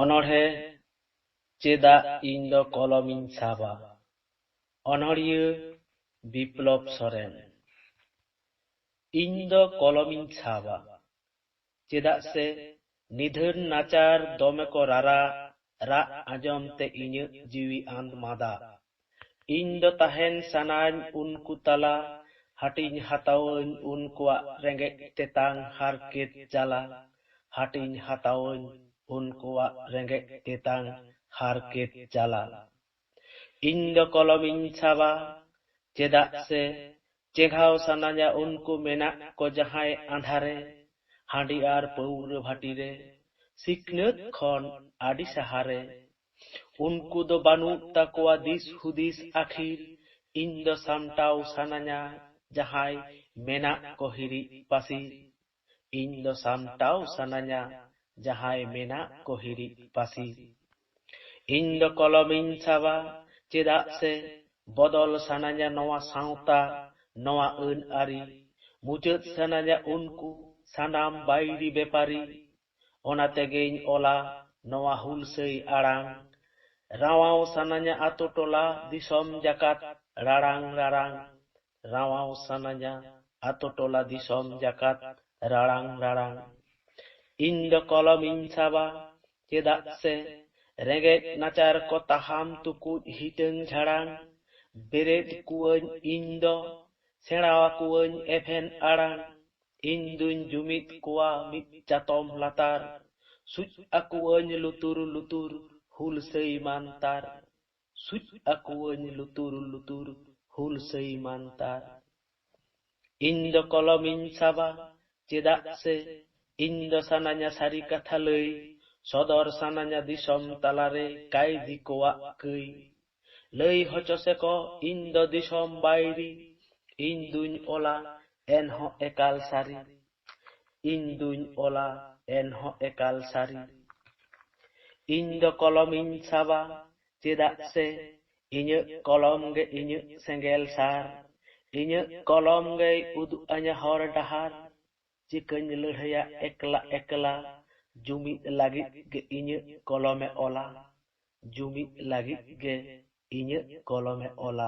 ᱚᱱᱚᱬᱦᱮ ᱪᱮᱫᱟᱜ ᱤᱧ ᱫᱚ ᱠᱚᱞᱚᱢ ᱤᱧ ᱥᱟᱵᱟ ᱚᱱᱚᱬᱦᱤᱭᱟᱹ ᱵᱤᱯᱞᱚᱵ ᱥᱚᱨᱮᱱ ᱤᱧ ᱫᱚ ᱠᱚᱞᱚᱢ ᱤᱧ ᱥᱟᱵᱟ ᱪᱮᱫᱟᱜ ᱥᱮ ᱱᱤᱫᱷᱟᱹᱱ ᱱᱟᱪᱟᱨ ᱫᱚᱢᱮ ᱠᱚ ᱨᱟᱨᱟᱜ ᱨᱟᱜ ᱟᱸᱡᱚᱢ ᱛᱮ ᱤᱧᱟᱹᱜ ᱡᱤᱣᱤ ᱟᱸᱫᱽ ᱢᱟᱫᱟᱜ᱾ ᱤᱧ ᱫᱚ ᱛᱟᱦᱮᱱ ᱥᱟᱱᱟᱧ ᱩᱱᱠᱩ ᱛᱟᱞᱟ᱾ ᱦᱟᱹᱴᱤᱧ ᱦᱟᱛᱟᱣᱟᱹᱧ ᱩᱱᱠᱩᱣᱟᱜ ᱨᱮᱸᱜᱮᱡ ᱛᱮᱛᱟᱝ ᱦᱟᱨᱠᱮᱛ ᱡᱟᱞᱟ᱾ ᱦᱟᱹᱴᱤᱧ ᱦᱟᱛᱟᱣᱟᱹᱧ ᱩᱱᱠᱩᱣᱟᱜ ᱨᱮᱸᱜᱮᱡ ᱛᱮᱛᱟᱝ ᱦᱟᱨᱠᱮᱛ ᱡᱟᱞᱟ᱾ ᱤᱧ ᱫᱚ ᱠᱚᱞᱚᱢ ᱤᱧ ᱥᱟᱵᱟ ᱪᱮᱫᱟᱜ ᱥᱮ ᱪᱮᱸᱜᱷᱟᱣ ᱥᱟᱱᱟᱧᱟ ᱩᱱᱠᱩ ᱢᱮᱱᱟᱜ ᱠᱚ ᱡᱟᱦᱟᱸᱭ ᱟᱸᱫᱷᱟᱨᱮ ᱦᱟᱺᱰᱤ ᱟᱨ ᱯᱟᱹᱣᱨᱟᱹ ᱵᱷᱟᱹᱴᱤ ᱨᱮ ᱥᱤᱠᱷᱱᱟᱹᱛ ᱠᱷᱚᱱ ᱟᱹᱰᱤ ᱥᱟᱦᱟ ᱨᱮ ᱩᱱᱠᱩ ᱫᱚ ᱵᱟᱹᱱᱩᱜ ᱛᱟᱠᱚᱣᱟ ᱫᱤᱥ ᱦᱩᱫᱤᱥ ᱟᱹᱠᱷᱤᱨ ᱤᱧ ᱫᱚ ᱥᱟᱢᱴᱟᱣ ᱥᱟᱱᱟᱧᱟ ᱡᱟᱦᱟᱸᱭ ᱢᱮᱱᱟᱜ ᱠᱚ ᱦᱤᱨᱤᱡ ᱯᱟᱹᱥᱤᱨ᱾ ᱤᱧ ᱫᱚ ᱥᱟᱢᱴᱟᱣ ᱥᱟᱱᱟᱧᱟ ᱡᱟᱦᱟᱸᱭ ᱢᱮᱱᱟᱜ ᱠᱚ ᱦᱤᱨᱤᱡ ᱯᱟᱹᱥᱤ᱾ ᱤᱧ ᱫᱚ ᱠᱚᱞᱚᱢᱤᱧ ᱥᱟᱵᱟ ᱪᱮᱫᱟᱜ ᱥᱮ ᱵᱚᱫᱚᱞ ᱥᱟᱱᱟᱧᱟ ᱱᱚᱣᱟ ᱥᱟᱶᱛᱟ, ᱱᱚᱣᱟ ᱟᱹᱱ ᱟᱹᱨᱤ᱾ ᱢᱩᱪᱟᱹᱫ ᱥᱟᱱᱟᱧᱟ ᱩᱱᱠᱩ ᱥᱟᱱᱟᱢ ᱵᱟᱹᱭᱨᱤ ᱵᱮᱯᱟᱨᱤ᱾ ᱚᱱᱟ ᱛᱮᱜᱮᱧ ᱚᱞᱟ ᱱᱚᱣᱟ ᱦᱩᱞᱥᱟᱹᱭ ᱟᱲᱟᱝ᱾ ᱨᱟᱶᱟᱣ ᱥᱟᱱᱟᱧᱟ ᱟᱹᱛᱩ ᱴᱚᱞᱟ ᱫᱤᱥᱚᱢ ᱡᱟᱠᱟᱛ ᱨᱟᱲᱟᱝ ᱨᱟᱨᱟᱝ᱾ ᱨᱟᱶᱟᱣ ᱥᱟᱱᱟᱧᱟ ᱟᱛᱳ ᱴᱚᱞᱟ ᱫᱤᱥᱚᱢ ᱡᱟᱠᱟᱛ ᱨᱟᱲᱟᱝ ᱨᱟᱲᱟᱝ ᱤᱧ ᱫᱚ ᱠᱚᱞᱚᱢ ᱤᱧ ᱥᱟᱵᱟ ᱪᱮᱫᱟᱜ ᱥᱮ ᱨᱮᱸᱜᱮᱡ ᱱᱟᱪᱟᱨ ᱠᱚ ᱛᱟᱦᱟᱢ ᱛᱩᱠᱩᱡ ᱦᱤᱴᱟᱹᱝ ᱡᱷᱟᱲᱟᱝ ᱵᱮᱨᱮᱫ ᱠᱩᱣᱟᱹᱧ ᱤᱧ ᱫᱚ ᱥᱮᱬᱟ ᱟᱠᱩᱣᱟᱹᱧ ᱮᱵᱷᱮᱱ ᱟᱲᱟᱝ ᱤᱧ ᱫᱩᱧ ᱡᱩᱢᱤᱫ ᱠᱚᱣᱟ ᱢᱤᱫ ᱪᱟᱛᱚᱢ ᱞᱟᱛᱟᱨ ᱥᱩᱡ ᱟᱠᱩᱣᱟᱹᱧ ᱞᱩᱛᱩᱨ ᱞᱩᱛᱩᱨ ᱦᱩᱞᱥᱟᱹᱭ ᱢᱟᱱᱛᱟᱨ᱾ ᱥᱩᱡ ᱟᱠᱚᱣᱟᱹᱧ ᱞᱩᱛᱩᱨ ᱞᱩᱛᱩᱨ ᱦᱩᱞᱥᱟᱹᱭ ᱢᱟᱱᱛᱟᱨ᱾ ᱤᱧ ᱫᱚ ᱠᱚᱞᱚᱢ ᱤᱧ ᱥᱟᱵᱟ ᱪᱮᱫᱟᱜ ᱥᱮ ᱤᱧ ᱫᱚ ᱥᱟᱱᱟᱧᱟ ᱥᱟᱹᱨᱤ ᱠᱟᱛᱷᱟ ᱞᱟᱹᱭ᱾ ᱥᱚᱫᱚᱨ ᱥᱟᱱᱟᱧᱟ ᱫᱤᱥᱚᱢ ᱛᱟᱞᱟ ᱨᱮ ᱠᱟᱹᱭᱫᱤ ᱠᱚᱣᱟᱜ ᱠᱟᱹᱭ᱾ ᱞᱟᱹᱭ ᱦᱚᱪᱚ ᱥᱮᱠᱚ ᱤᱧ ᱫᱚ ᱫᱤᱥᱚᱢ ᱵᱟᱹᱭᱨᱤ᱾ ᱤᱧ ᱫᱩᱧ ᱚᱞᱟ ᱮᱱᱦᱚᱸ ᱮᱠᱟᱞ ᱥᱟᱹᱨᱤ᱾ ᱤᱧ ᱫᱩᱧ ᱚᱞᱟ ᱮᱱᱦᱚᱸ ᱮᱠᱟᱞ ᱥᱟᱹᱨᱤ᱾ ᱤᱧ ᱫᱚ ᱠᱚᱞᱚᱢᱤᱧ ᱥᱟᱵᱟ ᱪᱮᱫᱟᱜ ᱥᱮ ᱤᱧᱟᱹᱜ ᱠᱚᱞᱚᱢ ᱜᱮ ᱤᱧᱟᱹᱜ ᱥᱮᱸᱜᱮᱞ ᱥᱟᱨ᱾ ᱤᱧᱟᱹᱜ ᱠᱚᱞᱚᱢ ᱜᱮᱭ ᱩᱫᱩᱜ ᱟᱹᱧᱟ ᱦᱚᱨ ᱰᱟᱦᱟᱨ᱾ ᱪᱤᱠᱟᱹᱧ ᱞᱟᱹᱲᱦᱟᱹᱭᱟ ᱮᱠᱞᱟ ᱮᱠᱞᱟ᱾ ᱡᱩᱢᱤᱫ ᱞᱟᱹᱜᱤᱫ ᱜᱮ ᱤᱧᱟᱹᱜ ᱠᱚᱞᱚᱢᱮ ᱚᱞᱟ᱾ ᱡᱩᱢᱤᱫ ᱞᱟᱹᱜᱤᱫ ᱜᱮ ᱤᱧᱟᱹᱜ ᱠᱚᱞᱚᱢᱮ ᱚᱞᱟ᱾